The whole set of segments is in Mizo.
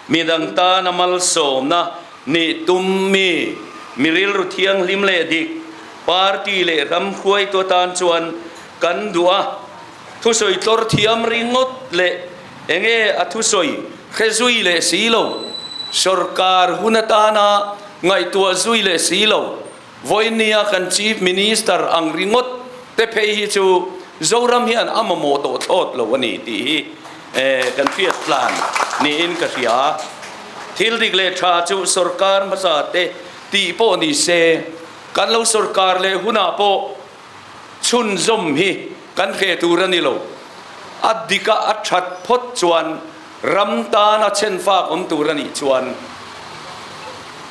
Midang tana malsawmna nih tummi mi rilru thianghlim leh dik, party leh ramkhuai tu atan chuan kan duh a, thusawi tlawr thiam ringawt leh enge a thusawi hre zui leh si lo, sawrkar hun atana ngaihtuah zui leh si lo, Voinia kan Chief Minister ang ringawt te phei hi chu Zoram hian a mamawh tawh thlawt lo a ni tih hi kan hriat tlan niin ka hria a. Thil dik leh tha chu sorkar hmasa te tih pawh ni se, kan lo sorkar leh hunah pawh, chhunzawm hi kan hle tur a ni lo. A dika a that phawt chuan ram tan a chhen fak awm tur a nih chuan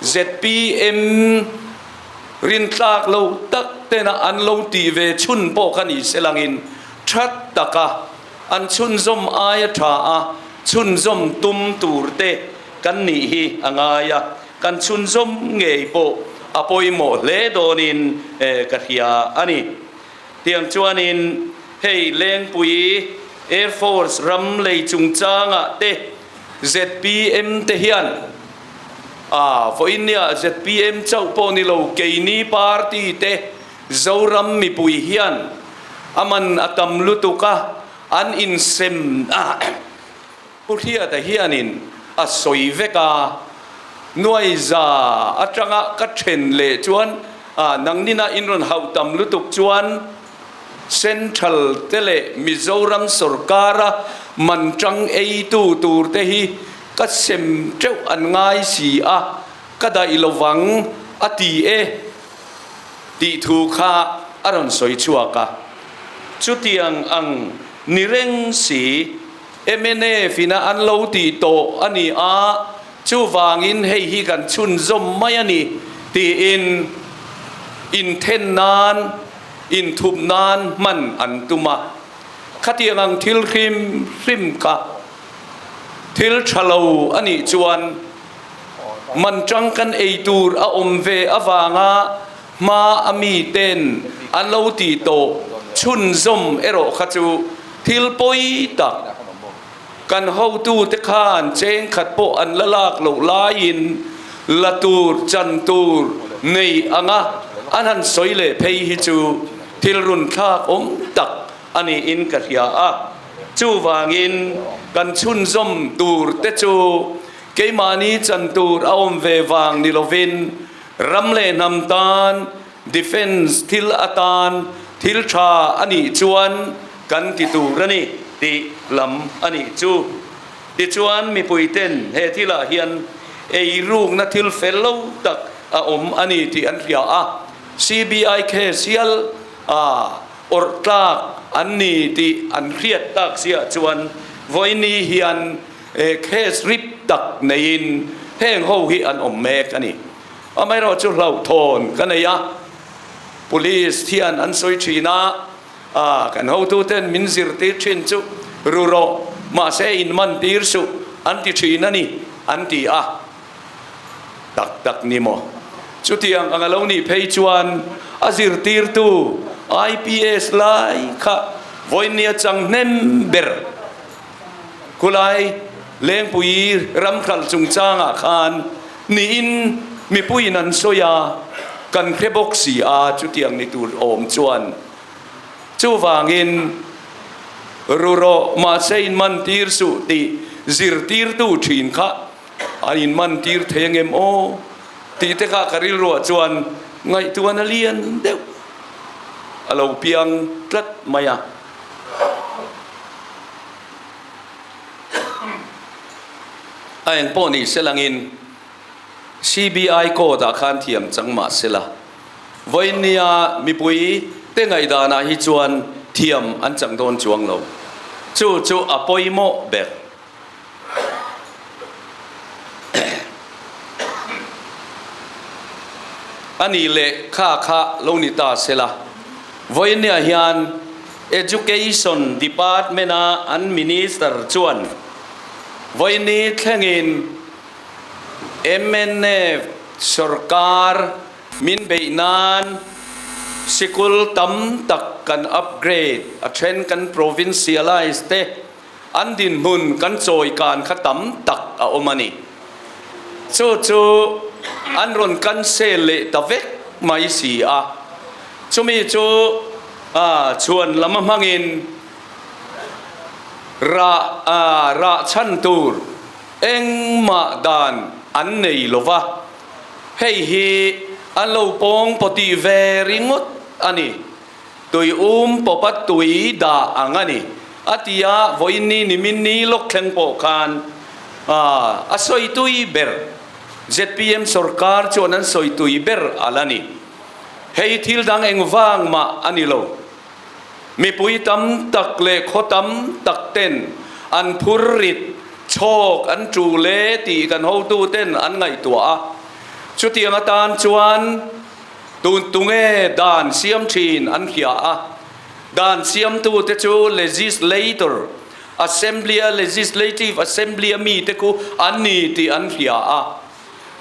zpm rintlak lo tak tena an lo ti ve chhun pawh kha ni se langin that taka an chhunzawm aia tha a chhunzawm tum tur te kan nih hi a ngai a. Kan chhunzawm ngei pawh a pawimawh hle dawnin ka hria a ni. Tiang chuanin hei Lengpui Air Force ram lei chungchanga te zpm te hian aa vawiin nia zpm chauh pawh ni lo keini party te Zoram mipui hian a man a tam lutuk a an insem Pu Hriata hianin a sawi vek a, Nuaiza atanga ka then leh chuan nang nina in rawn hauh tam lutuk chuan Central te leh Mizoram sawrkara man tang eitu tur te hi ka sem teuh an ngai si a, ka daih lo vang a ti e tih thu kha a rawn sawi chhuak a. Chutiang ang ni reng si. MNF-ina an lo tih tawh a ni a, chuvangin hei hi kan chhunzawm mai a ni, tiin inthen nan, inthup nan hman an tum a. Khatiang ang thil hrim hrim kha thil tha lo a nih chuan man tang kan ei tur a awm ve avanga Hma a mi ten an lo ti tawh chhunzawm erawh kha chu thil pawi tak kan hotu te khan cheng khat pawh an la lak loh laiin la tur chan tur nei anga an han sawi leh phei hi chu thil run thlak awm tak a niin ka hria a. Chuvangin kan chhunzawm tur te chu keimahni chan tur a awm ve vang ni lovin, Ram leh hnam tan defence thil atan thil tha a nih chuan kan ti tur a ni tih lam a nih chu. Tichuan mipui ten he thil ah hian ei rukna thil fel lo tak a awm a ni tih an hria a, CBI case hial a awrh tlak an ni tih an hriat tak ziah chuan Vawiini hian He case rip tak neiin heng ho hi an awm mek a ni. Amaherawh chu hlauhthawn ka nei a, Police hian an sawi thin a, aah kan hotuten min zirtir thin chu ru rawh, mahse in man tir suh an ti thin a ni, an ti a. Tak tak ni maw? Chutiang anga lo nih phei chuan a zirtirtu IPS lai kha vawinia chang hnem ber. Khulai Lengpui ram khalh chungchangah khan nihin mipuiin an sawi a, kan hre bawk si a, chutiang ni tur a awm chuan. Chuvangin ru rawh, mahse in man tir suh tih zirtirtu thin kha a in man tir thei ang em aw tih te kha ka rilruah chuan ngaihtuahna lian deuh a lo piang tlat mai a. A eng pawh ni se langin CBI court ah khan thiam chang mah se la, vawinia mipui te ngaihdanah hi chuan thiam an chang dawn chuang lo. Chu chu a pawimawh ber. A nih leh kha kha lo ni ta se la, Voinia hian Education Department a an Minister chuan Voini thlengin mnf sawrkar min beih nan sikul tam tak kan upgrade, a then kan provincialize te, An dinhmun kan chawi kan kha tam tak a awm a ni. Chu chu an rawn cancel leh ta vek mai si a. Chumi chu chhuan lam a hmangin rah rah chhan tur engmah dan an nei lo va. Hei hi an lo pawng pawh tih ve ringawt a ni. Tui um popa tui dah ang a ni, a ti a, Vawiinni Niminni Lawkthleng pawh khan a sawi tui ber. Zpm sawrkar chuan an sawi tui ber a la ni. Hei thil dang engvang mah a ni lo. Mipui tam tak leh khaw tam tak ten an phur rit, chhawk an ṭu le tih kan hotu ten an ngaihtuah a, chutiang atan chuan tun tu nge dan siam thin an hria a, dan siamtu te chu legislator, Assembly a legislative assembly a mi te khu an ni tih an hria a,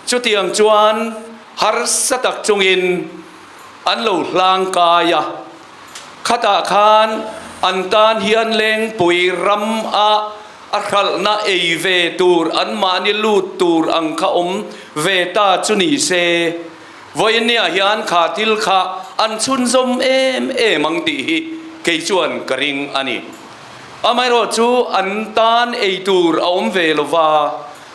chutiang chuan harsa tak chungin an lo hlang kai a, khatah khan an tan hian lengpui ram a a hralhna ei ve tur an mahni lut tur ang kha awm ve ta chu ni se. Vawinnia hian kha thil kha an chhunzawm em em ang tih hi kei chuan ka ring a ni. Amaherawh chu an tan ei tur a awm ve lo va,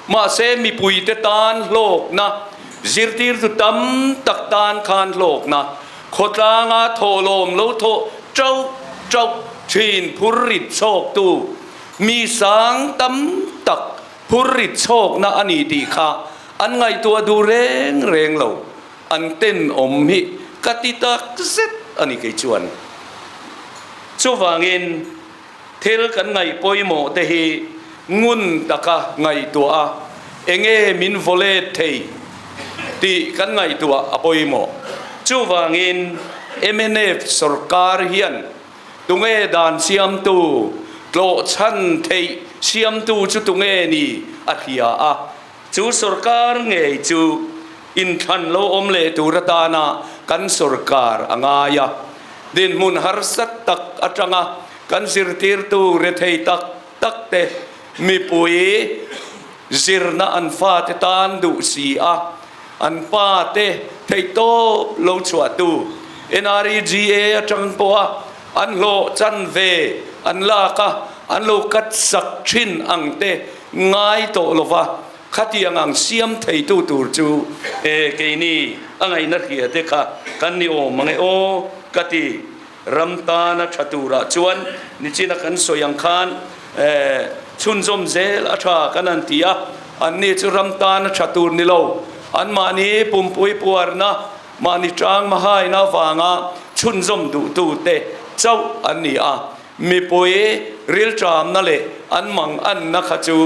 mahse mipuite tan hlawkna, zirtirtu tam tak tan khan hlawkna, khawtlanga thawhlawm lo thawh ṭauh ṭauh ṭhin phur rit chhawktu mi sang tam tak, hur rit chhawkna a ni tih kha an ngaihtuah duh reng reng lo. An tenawm hi ka ti tak zet a ni kei chuan. Chuvangin, thil kan ngaih pawimawh te hi ngun taka ngaihtuah a, enge min vawlet thei tih kan ngaihtuah a pawimawh. Chuvangin, MNF sorkar hian Tunge dan siamtu tlawh chhan theih siamtu chu tunge ni a hria a? Chu sorkar ngei chu inthlan lo awm leh tur atana kan sorkar a ngai a. Dinhmun harsat tak atanga kan zirtirtu rethei tak, tak te, mipui zirna an fate tan duh si a, an pa te theihtawp lo chhuahtu NREGA atang pawha an hlawh chan ve an lak a, an lo katsak thin ang te ngai tawh lova khatiang ang siam theitu tur chu e keini a ngaihna hria te kha kan ni awm ang e aw ka ti. Ram tan a tha turah chuan nichin a kan sawi ang khan chhunzawm zel a tha kan han ti a, anni chu ram tan a tha tur ni lo. Anmahni pumpui puarna, mahni tang mahaina avanga chhunzawm duhtute chauh an ni a. Mipui rilṭamna leh an mang anna kha chu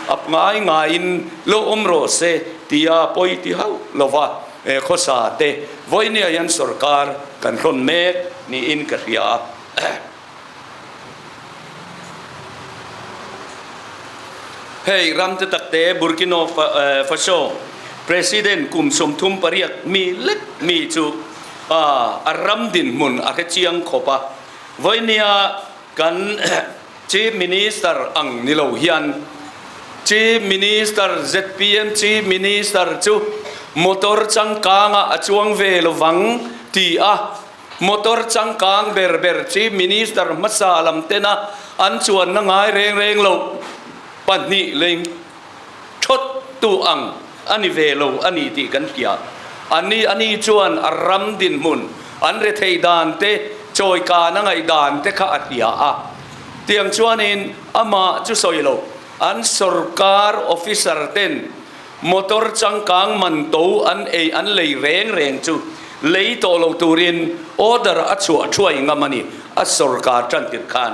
ap ngai ngaiin lo awm rawh se tia pawi ti hauh lo va. He khawsa te Vawiniah hian sawrkar kan hlawn mek niin ka hria a. Hei ram te tak te Burkino Faso President kum sawmthum pariat mi lek mi chu a ram dinhmun a hrechiang khawp a. Vawiniah kan Chief Minister ang ni lo hian Chief Minister zpm Chief Minister chu motor changkangah a chuang ve lovang ti a, motor changkang ber ber Chief Minister hmasa lam tena an chuanna ngai reng reng loh pahnih lei. thawttu ang a ni ve lo a ni tih kan hria. A ni a ni chuan a ram dinhmun, an rethei dan te, chawi kan a ngaih dan te kha a hria a. Tiang chuanin amah chu sawi lo, an sorkar officer ten motor changkang man to an ei an lei reng reng chu lei tawh lo turin order a chhuah thuai ngam a ni a sorkar tantir khan.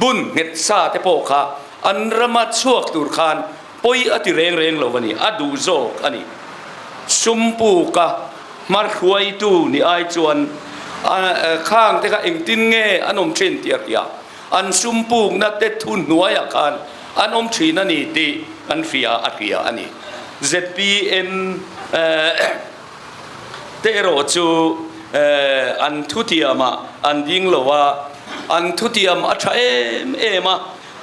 Bun nghet sa te pawh kha an rama chhuak tur khan pawi a ti reng reng lo a ni, a duh zawk a ni. Sumpuka hmarhuaitu ni ai chuan a khang te kha engtin nge an awm thin tih a hria, an sumpukna te thu hnuaiah khan an awm thin a ni tih kan hria a hria a ni. Zpm. te erawh chu an thutiam ah an ding lo a, an thutiam a tha em em a,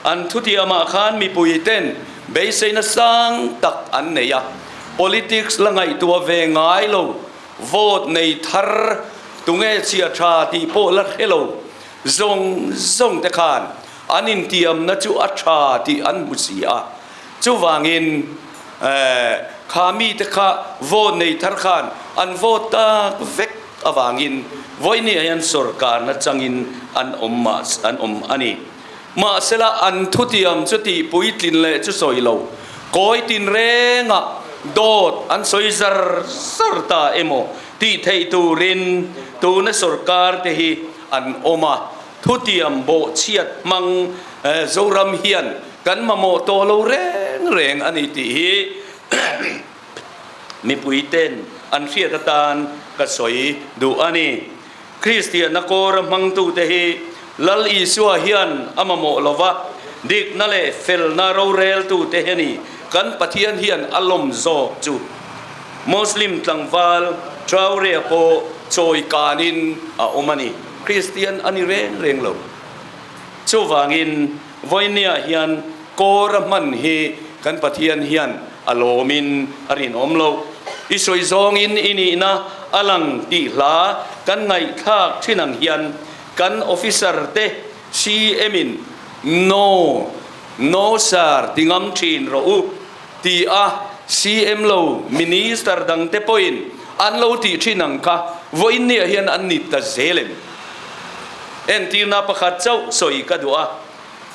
an thutiam ah khan mipui ten beisei na sang tak an nei a, politics la ngaihtuah ve ngai lo, vote nei thar tunge chhia tha tih pawh la hre lo, zawng zawng te khan an intiam na chu a tha tih an hmu si a. Chuvangin kha mite kha vote nei thar khan an vote tak vek avangin Vawinia hian sawrkar nachangin an awm mah an awm a ni. Mahsela an thutiam chu tihpui tlin leh chu sawi lo, kawi tinrenga dawt an sawi zar zar ta emaw tih theih turin tuna sawrkarte hi an awm a. Thutiam bawhchhiat hmang Zoram hian kan mamawh tawh lo reng reng a ni tih hi mipuiten an hriat atan ka sawi duh a ni. Kristianna kawra hmangtute hi Lal Isua hian a mamawh lo va, dikna leh felna roreltute hi a ni. Kan Pathian hian a lawm zawk chu Muslim tlangval Traorea pawh chawi kanin a awm a ni. Kristian a ni reng reng lo. Chuvangin vawinia hian Kora hman hi kan Pathian hian a lawmin a rinawm lo. I sawi zawngin i nihna a lang tih hla kan ngaihthlak thin ang hian kan officer te CM-in No, No sir ti ngam thin rawh u. Ti a, CM lo Minister dang te pawhin an lo tih thin ang kha, vawiinneah hian an ni ta zel em? Entirna pakhat chauh sawi ka duh a,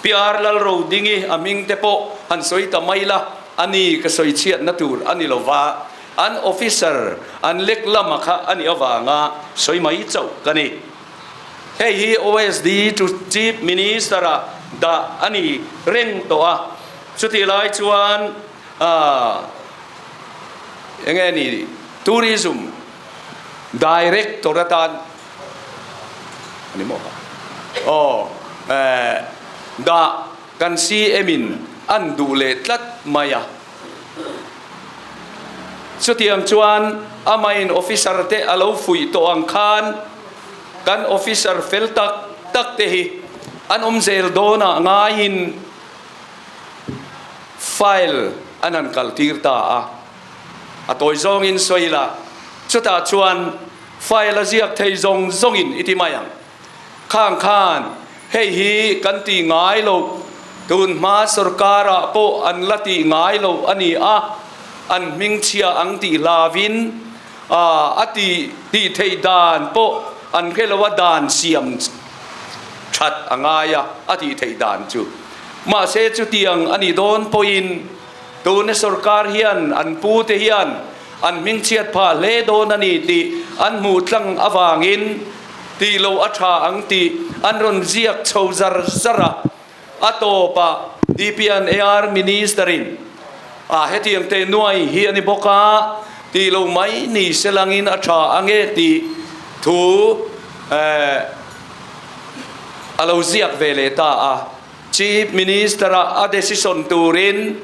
Pyar Lal Rodingi a hming te pawh han sawi ta mai la, a ni ka sawi chhiatna tur a ni lo va, an Officer an lek lama kha a nih avanga sawi mai chauh ka ni. Hei hi OSD chu Chief Minister-a dah a ni reng tawh a. Chutih lai chuan ahh enge ni Tourism Director atan ani maw ka aw ehh dah kan CM in an duh leh tlat mai a. Chutiang chuan a mine officer te a lo fuih tawh ang khan kan officer fel tak tak te hi an awm zel dawnah ngaiin, File an han kal tir ta a, a tawi zawng in sawi la, chutah chuan file a ziak thei zawng zawng in i ti mai ang. Khang khan hei hi kan tih ngai lo, tun hma sorkar ah pawh an la tih ngai lo a ni a, an hmingchhia ang tih hla vin, a a ti tih theih dan pawh an hre lo a dan siam that a ngai a a tih theih dan chu. Mahse chutiang a ni dawn pawhin tuna sorkar hian an pu te hian an hming chhiat phah hle dawn a ni tih an hmuh tlang avangin tih loh a tha ang tih an rawn ziak chho zar zar a. A tawpa DPNAR Minister-in, A hetiang te nuai hi a ni bawk a, tih lo mai ni se langin a tha a nge tih thu a lo ziak ve leh ta a. Chief Minister-a a decision turin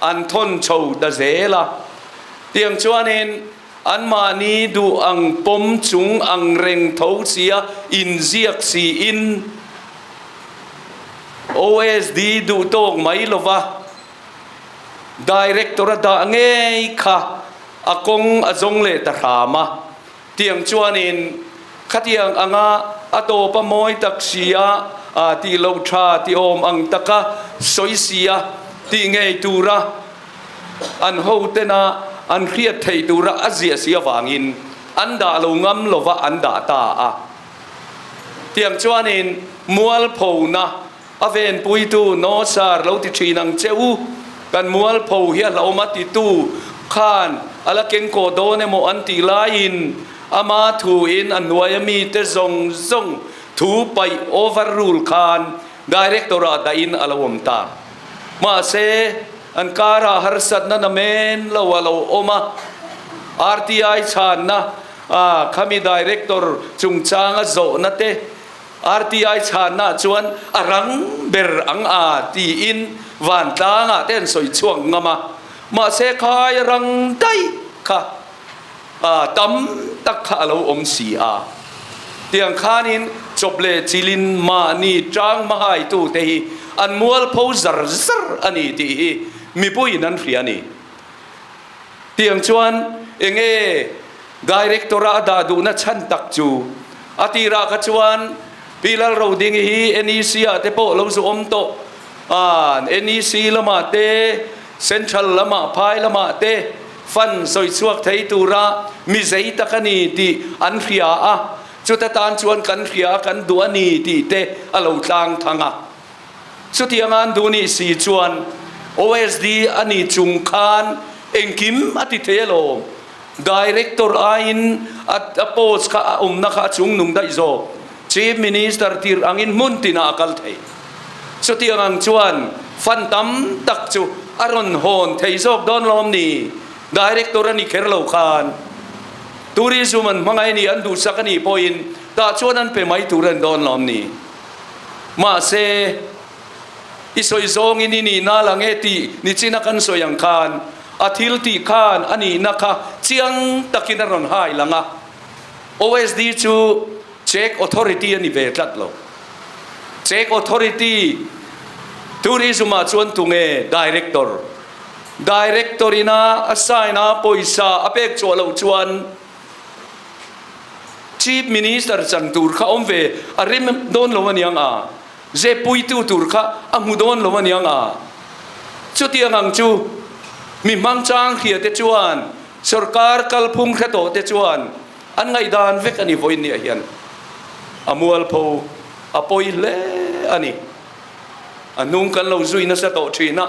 an thawn chho ta zel a. Tiang chuanin Anmahni duh ang pawm chung ang reng tho sia inziak siin OSD duh tawk mai lova Director a dah ngei kha a kawng a zawng leh ta hram a. Tiang chuanin khatiang anga a tawp a mawi tak sia tih lo tha ti awm ang taka sawi sia tih ngei tura, An hotena an hriat theih tura a ziah si avangin an dah lo ngam lova an dah ta a. Tiang chuanin Mualphona a venpuitu No Sir lo ti thin ang che u, kan mualpho hi a hlawm a titu khan a la keng kaw dawn emaw an tih laiin ama thuin a hnuai a mite zawng zawng thu paih, overrule, khan Director-ah dahin a lo awm ta. Mahse, an karah harsatna na men lo a lo awm a. RTI chhanna a khami Director chungchanga zawhna te RTI chhannaah chuan a rang ber ang a tiin Vantlangah te an sawi chhuak ngam a. Mahse khai a rang daih kha. A tam tak kha a lo awm si a. Tiang khanin Chawple Chilin mahni tang hmahaitute hi an mual pho zar zar a ni tih hi mipuiin an hria a ni. Tiang chuan enge Director-a a dah duhna chhan tak chu a tirah kha chuan Pi Lalro ding hi NEC-ah te pawh lo zu awm tawh, NEC lamah te, Central lamah phai lamah te fund sawi chhuak thei tura mi zei tak a ni tih an hria a, chuta tan chuan kan hria a kan duh a ni tih te a lo tlang thang a. Chutiang a an duh nih si chuan OSD a nih chung khan engkim a ti theih alawm, Director aiin a post kha a awmna kha a chung nung daih zawk, Chief Minister tir angin hmun tinah a kal thei. Chutiang ang chuan fan tam tak chu a rawn hawn thei zawk dawn lo awm ni? Director a ni kher lo khan Tourism an hmangaih ni an duhsak a nih pawhin tah chuan an pe mai tur a ni dawn lo awm ni? Mahse, I sawi zawngin i nihna la nge tih nichin a kan sawi ang khan a thil tih khan a nihna kha chiang takin a rawn hai lang a. OSD chu Czech Authority a ni ve tlat lo. Czech Authority Tourism-ah chuan tunge Director, Director ina a sign a pawisa a pek chhuah loh chuan Chief Minister chan tur kha awm ve a rim dawn lo a niang a. Zepuitu tur kha a hmu dawn lo a ni anga, chutiang ang chu mi hmangchang hria te chuan sorkar kalphung hre tawh te chuan an ngaihdan vek a ni vawiin ni ah hian a mualpho a pawi hle a ni. A hnung kan lo zui nasa tawh thin a,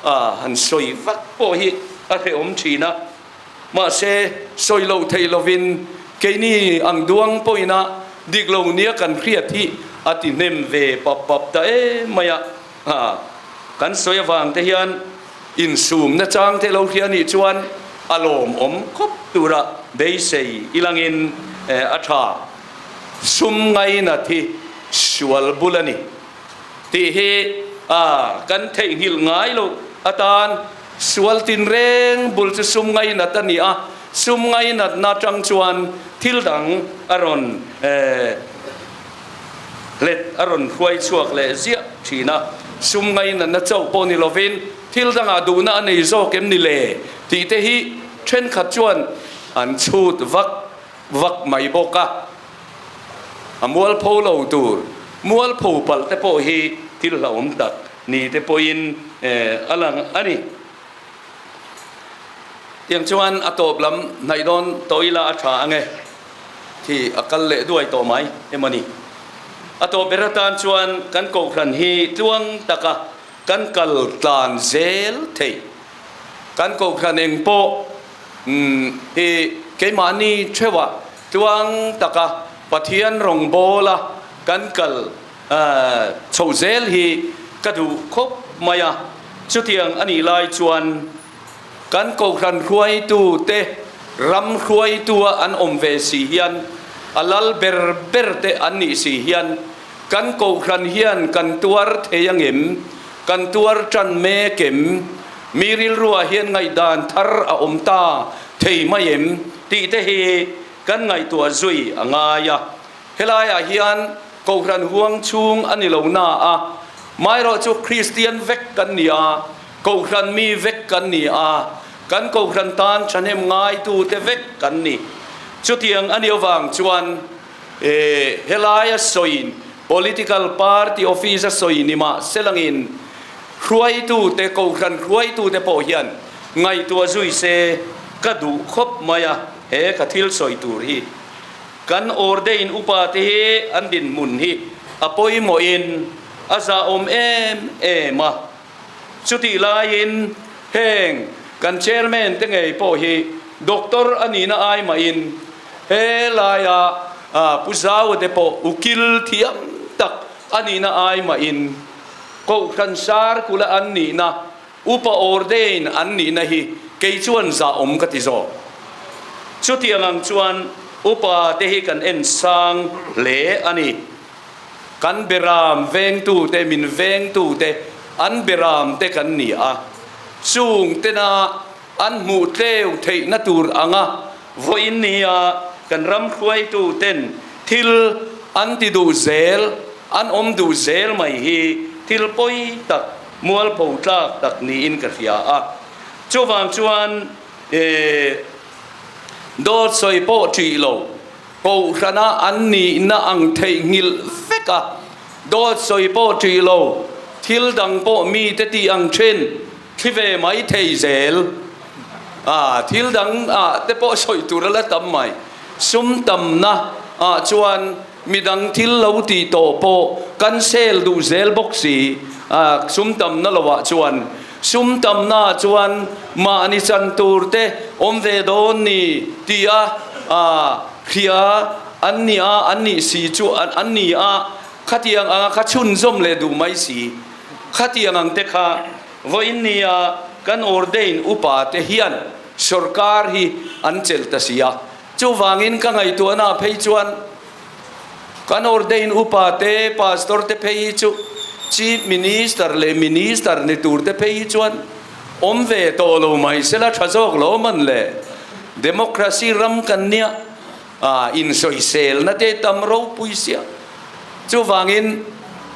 a han sawi vak pawh hi a hrehawm thin a. Mahse, sawi lo thei lovin, keini ang duang pawhina dik lo nia kan hriat hi a ti hnem ve pap pap ta em mai a. Ha, kan sawi avang te hian insumna chang te lo hria a nih chuan a lawm awm khawp tura beisei i langin a tha sum ngaina thi sual bul a ni. Tih hi a kan theihnghilh ngai loh atan sual tinreng bul chu sum ngainat a ni a, sum ngainatna atang chuan thil dang a rawn let, a rawn hruai chhuak leh ziah thin a. Sum ngainatna chauh pawh ni lovin thil dangah duhna a nei zawk em ni le? tih te hi thenkhat chuan an chhut vak. vak mai bawk a, a mualpho lo tur mualpho palh te pawh hi thil hlauhawm tak ni te pawhin a lang a ni. Tiang chuan a tawp lam hnaih dawn tawh ila a tha ange, khi a kal leh duai tawh mai emaw ni? A tawp ber atan chuan kan kohhran hi tluang taka kan kal tlan zel thei, kan kohhran eng pawh, Umm, i keimahni theuha tluang taka Pathian rawngbawla kan kal chho zel hi ka duh khawp mai a. Chutiang a nih lai chuan kan kohhran hruaitute, ram hruaitu a an awm ve si hian a lal ber berte an nih si hian, Kan Kohhran hian kan tuar thei ang em? Kan tuar tan mek em? Mi rilruah hian ngaihdan thar a awm ta thei mai em? tih te hi kan ngaihtuah zui a ngai a. Helaiah hian Kohhran huang chhung a ni lo na a, hmaerawh chu Kristian vek kan ni a, Kohhran mi vek kan ni a, kan Kohhran tan thahnem ngaitute vek kan ni. Chutiang a ni avang chuan E, helai a sawiin political party office a sawi ni mah se langin hruaitu te, kohhran hruaitu te pawh hian ngaihtuah zui se ka duh khawp mai a, he ka thil sawi tur hi. Kan awrde in upa te hi an dinhmun hi a pawimawhin a zahawm em em a. Chutih laiin heng kan chairman te ngei pawh hi doctor a nihna ai mahin he laia Pu Zaua te pawh u kil thiam tak a nihna ai mahin Kohhran Sarkula an nihna, upa ordain an nihna hi kei chuan zahawm ka ti zawk. Chutiang ang chuan upa te hi kan en sang hle a ni. Kan Beram vengtu te, min veng tu te, an Beram te kan ni a, chung tena an hmuh tleu theih na tur ang a, vawiin nia kan ram hruai tu ten thil an ti duh zel, an awm duh zel mai hi thil pawi tak, mualpho tlak tak niin ka hria a. Chuvang chuan ee dawt sawi pawh tih lo. Kohhrana an nihna ang theih nghilh vek a, dawtsawi pawh ṭih lo, thil dang pawh mite tih ang ṭhin, thli ve mai thei zel. Aah, thil dang ah te pawh sawi tur a la tam mai. Sum tamna ah chuan midang thil lo ti tawh pawh kan sel duh zel bawk si, aah sum tamna lo ah chuan. Sum tamnaah chuan mahni chan tur te awm ve dawn ni ti a hria an ni a, an nih si chu an ni a, khatiang anga kha chhunzawm leh duh mai si. Khatiang ang te kha vawiin ni a, kan ordain upa te hian sorkar hi an chelh ta si a, chuvangin ka ngaihtuahnaah phei chuan Kan ordain upa te, pastor te phei hi chu Chief Minister leh Minister ni tur te phei hi chuan awm ve tawh lo mai se la, tha zawk lo man le. Democracy ram kan nia, ah, insawiselna te tam ropui sia. Chuvangin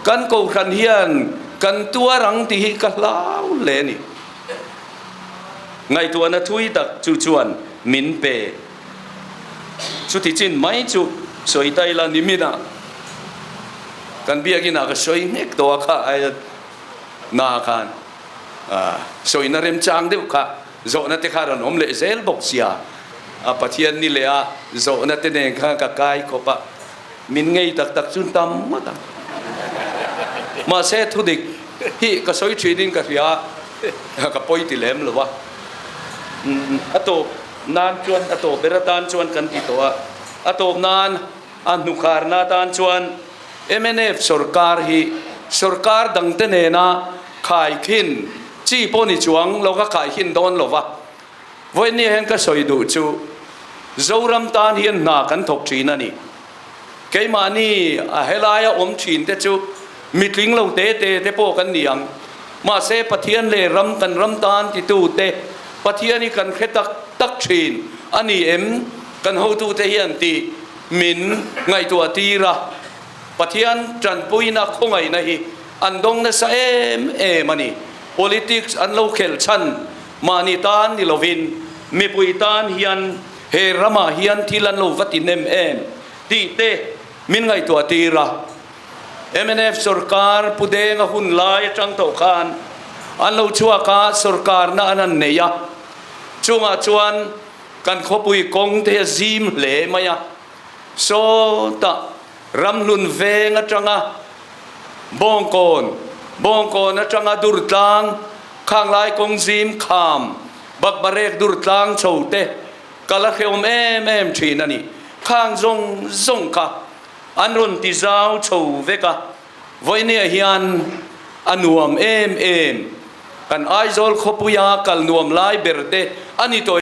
kan kohhran hian kan tuar ang tih hi ka hlau hle a ni. Ngaihtuahna thui tak chu chuan min pe. Chuti chin mai chu sawi ta ila ni mina kan biakina ka sawi hnek tawh a kha aia na khan sawina remchang deuh kha zawhna te kha rawn awm leh zel bawk sia a Pathian ni leha zawhna te nen khan ka kai khawp a. min ngei tak tak chu tam ngawt ang. Mahse thudik hi ka sawi thinin ka hria a, ka pawi ti lem lo a. A tawp nan chuan, a tawp ber atan chuan kan ti tawh a, a tawp nan a hnukharna atan chuan mnf sorkar hi sorkar dangte nena khaithin chi pawh ni chuang lawka khaithin dawn lo va, Vawinia hian ka sawi duh chu, Zoram tan hian hna kan thawk thin a ni. Keimahni a helaia awm thin te chu mitling lo te te te pawh kan ni ang. Mahse Pathian leh ram kan ram tan titu te Pathian hi kan hre tak tak thin a ni em? kan hotu te hian ti min ngaihtuah tir a. Pathian tanpuina khawngaihna hi an dawng nasa em em a ni. Politics an lo khelh chhan. Mahni tan ni lovin mipui tan hian he ramah hian thil an lo va ti nem em tih te min ngaihtuah tir a. Mnf sorkar pu denga hun lai atang tawh khan an lo chhuak a, sorkarna an han neih a. Chungah chuan kan khawpui kawng te hi a zim hle mai a. Saw tah Ramhlun veng atanga Bawngkawn, Bawngkawn atanga Durtlang, Khanglai kawng zim kham, Bakbarek Durtlang chho te kal a hreawm em em thin a ni. Khang zawng zawng kha an rawn ti zau chho vek a, Vawinia hian a nuam em em. Kan Aizawl khawpuia kal nuam lai ber te a ni tawh e.